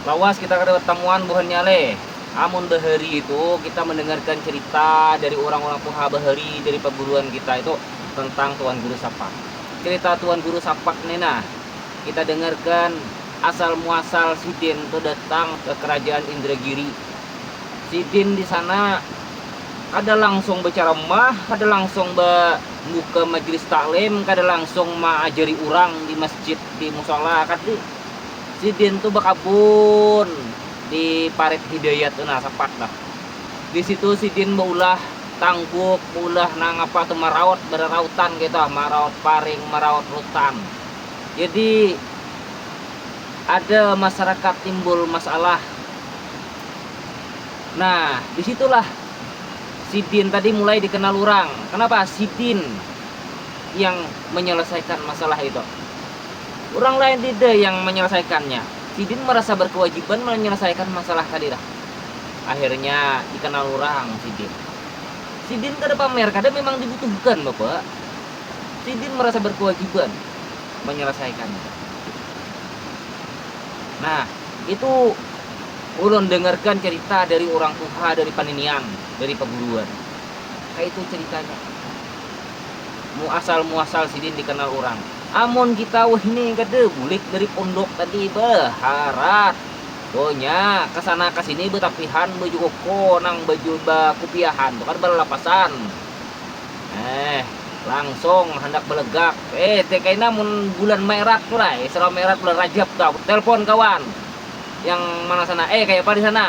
Lawas kita kada batamuan buhannya le. Amun bahari itu kita mendengarkan cerita dari urang-urang tuha bahari dari paguruan kita itu tentang Tuan Guru Sapak. Cerita Tuan Guru Sapak ni nah kita dengarkan asal muasal sidin tu datang ke kerajaan Indragiri. Sidin di sana kada langsung berceramah, kada langsung membuka majlis taklim, kada langsung mengajari urang di masjid di musola akad di sidin tuh bakabun di parit hidayat tuh nah sepak dah di situ sidin baulah tangguk baulah nang apa tuh meraut berarautan gitu meraut paring meraut rutan jadi ada masyarakat timbul masalah nah disitulah sidin tadi mulai dikenal orang kenapa sidin yang menyelesaikan masalah itu. Orang lain dida yang menyelesaikannya. Sidin merasa berkewajiban menyelesaikan masalah tadi dah. Akhirnya dikenal orang sidin. Sidin kada pamer, kada memang dibutuhkan bapak. Sidin merasa berkewajiban menyelesaikannya. Nah, itu ulun dengarkan cerita dari orang tuha dari paninian, dari paguruan. Kayak itu ceritanya. Muasal-muasal sidin dikenal urang. Amun kita wahini kada bulik dari pondok tadi baharat. Donya kesana kesini betapihan baju koko nang baju bakupiahan tu kada balalapasan. Eh, langsung handak balegak. Eh, te kaina mun bulan maerat tu lah, isra maerat bulan rajab tu. Aku telpon kawan yang mana sana. Eh, kayapa di sana?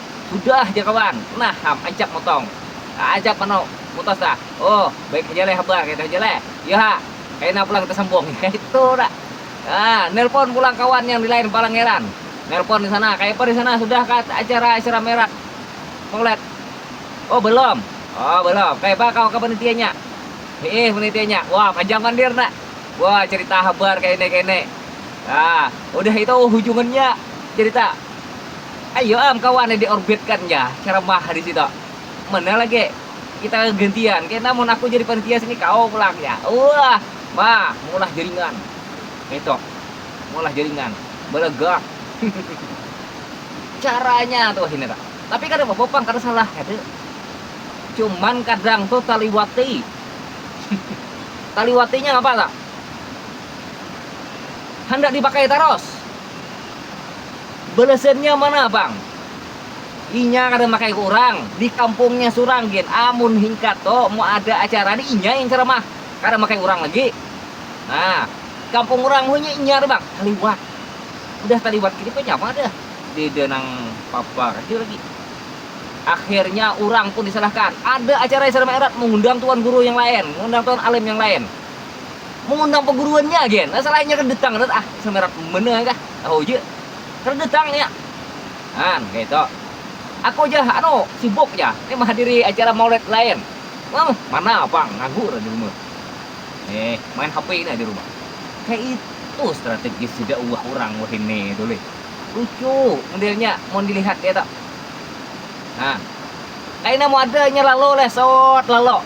Hudah jar kawan, nah ham ancap motong. Kaajap manuk, mutas dah. Oh, baik haja leh habar kayatu haja leh. Iyo ha, kaina pulang kita sambung. Kayatu dah. Nah, nelpon pulang kawan yang di lain palangeran. Nelpon di sana, kayapa di sana sudah kah acara-acara merah Maulad? Oh, belum. Oh, belum. Kayapa kawa ka panitianya? Hiih, panitianya. Wah, panjang pandir nah. Wah, cerita habar kayane-kayane. Nah, hudah itu hujungannya cerita. Ayo am kawan yang diorbitkan ya, ceramah di situ. Mana lagi? Kita gantian. Kena mun aku jadi panitia sini kau pulang ya. Wah, ma, mulah jaringan. Itu. Mulah jaringan. Balaga. Caranya tuh ini tak. Tapi kada apa-apa pang, kada salah kada. Cuman kadang tuh taliwati. Taliwatinya apa tak? Handak dipakai terus. Balasannya mana pang. Inya kada makaiku urang, di kampungnya surang gin amun hingkat to mun ada acara ni inya yang caramah, kada makai urang lagi. Nah, kampung urang hunya inya tu pang, taliwat. Udah taliwat gini banyak pang ada deda nang papa kecil lagi. Akhirnya urang pun disalahkan. Ada acara yang ceramah erat mengundang tuan guru yang lain, mengundang tuan alim yang lain. mengundang peguruannya agen nah salahnya kada datang kada ah semerat mana kah tahu aja kada datang ya kan gitu aku aja anu sibuk ya ini menghadiri acara maulid lain Wah, mana pang nganggur di rumah eh main HP ini di rumah kayak itu strategis tidak uah orang wah ini itu lih lucu modelnya mau dilihat ya tak nah kayak ini mau ada nyeralo leh sot lalo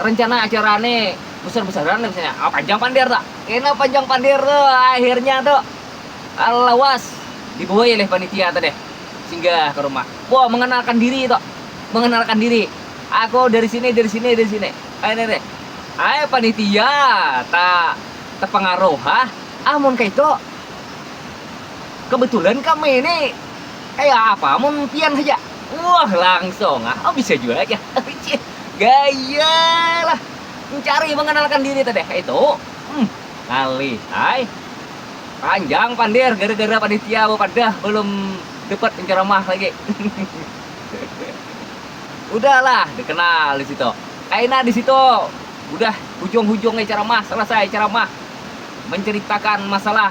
rencana acara nih besar besaran misalnya ah, panjang pandir tak kena panjang pandir tuh akhirnya tuh lawas dibawa oleh panitia tuh deh singgah ke rumah wow mengenalkan diri tuh mengenalkan diri aku dari sini dari sini dari sini ah, ini deh ay panitia tak terpengaruh ah amun ah, kayak itu kebetulan kami ini Kaya apa mun pian haja? Wah langsung ah, oh bisa jua jar aku cih, gaya lah mencari mengenalkan diri tadi kaitu, hmm ngalih ai, panjang pander gara-gara panitia bepadah belum dapat penceramah lagi udah lah dikenal di situ, kaina di situ udah hujung-hujungnya ceramah selesai ceramah menceritakan masalah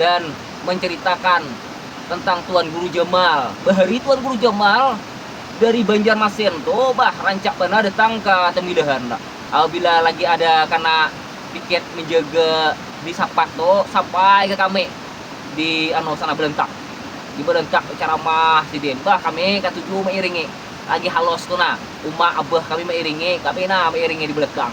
dan menceritakan tentang Tuan Guru Jamal. Bahari Tuan Guru Jamal dari Banjarmasin tuh bah rancak bana datang ke Temidahan. Apabila lagi ada kena piket menjaga di Sapat tuh sampai ke kami di anu sana belentak. Di belentak ceramah sidin. Bah kami katuju mengiringi. Lagi halos tuh nah. Uma abah kami mengiringi, kami nah mengiringi di belakang.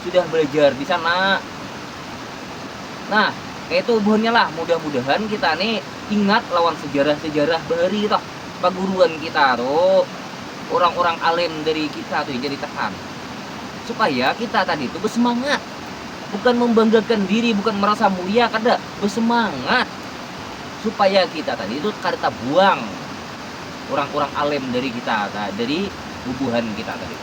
sudah belajar di sana. Nah, itu buhannya lah mudah-mudahan kita nih ingat lawan sejarah-sejarah bahari toh paguruan kita tuh orang-orang alim dari kita tuh jadi tekan supaya kita tadi itu bersemangat bukan membanggakan diri bukan merasa mulia kada bersemangat supaya kita tadi itu kada buang orang-orang alim dari kita dari bubuhan kita tadi